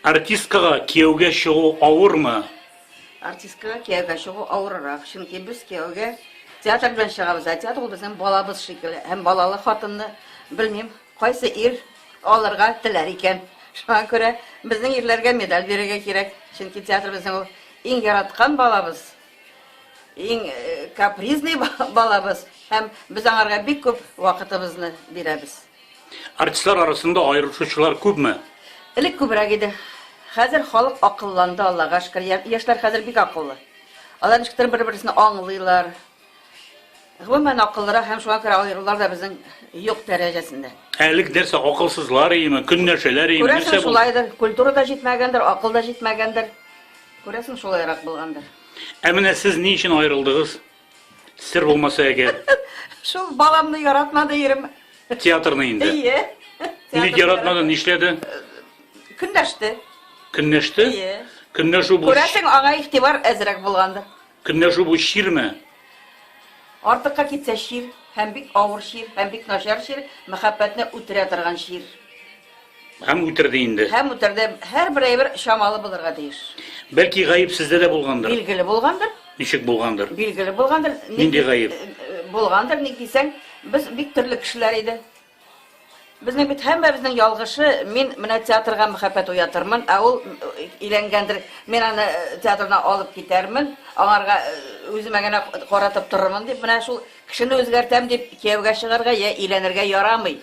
Артисткага кияүгә чыгу авырмы? Артисткага кияүгә чыгу авыррак, чөнки без кияүгә театр белән чыгабыз, ә театр ул безнең балабыз шикелле. Һәм балалы хатынны, белмим, кайсы ир алырга теләр икән. Шуңа күрә безнең ирләргә медаль бирергә кирәк, чөнки театр безнең ул иң яраткан балабыз. Иң капризный балабыз һәм без аңарга бик күп вакытыбызны бирәбез. Артистлар арасында аерылышучылар күпме? Элек күбрәк иде. Хәзер халык акылланды, Аллага шөкер. Яшьләр хәзер бик акыллы. Алар ничектер бер-берсен аңлыйлар. Гомумән, акыллырак һәм шуңа күрә аерулар да безнең юк дәрәҗәсендә. Әлеге нәрсә акылсызлар иеме, көннәршәләр иеме, нәрсә бу? Күрәсең, шулайдыр. Культура да җитмәгәндер, акыл да җитмәгәндер. Күрәсең, шулайрак булгандыр. Ә менә сез ни өчен аерылдыгыз? Сер булмаса әгәр. Шул баламны яратмады ирем. Театрны инде. Ие. Ник яратмады, нишләде? Көнләште. Көнләште? Ие. Көнләшү бу. Күрәсең, аңа игътибар әзрәк булгандыр. Көнләшү бу чирме? Артыкка китсә чир, һәм бик авыр чир, һәм бик начар чир, мәхәббәтне үтерә торган чир. Һәм үтерде инде. Һәм үтерде. Һәрбер әйбер чамалы булырга тиеш. Бәлки гаеп сездә дә булгандыр? Билгеле булгандыр. Ничек булгандыр? Билгеле булгандыр. Нинди гаеп? Булгандыр, ник дисәң, без бик төрле кешеләр иде. Безнең бит һәммәбезнең ялгышы, мин менә театрга мәхәббәт уятырмын, ә ул өйләнгәндер, мин аны театрына алып китәрмен, аңарга үземә генә каратып торырмын дип, менә шул кешене үзгәртәм дип кияүгә чыгарга йә өйләнергә ярамый.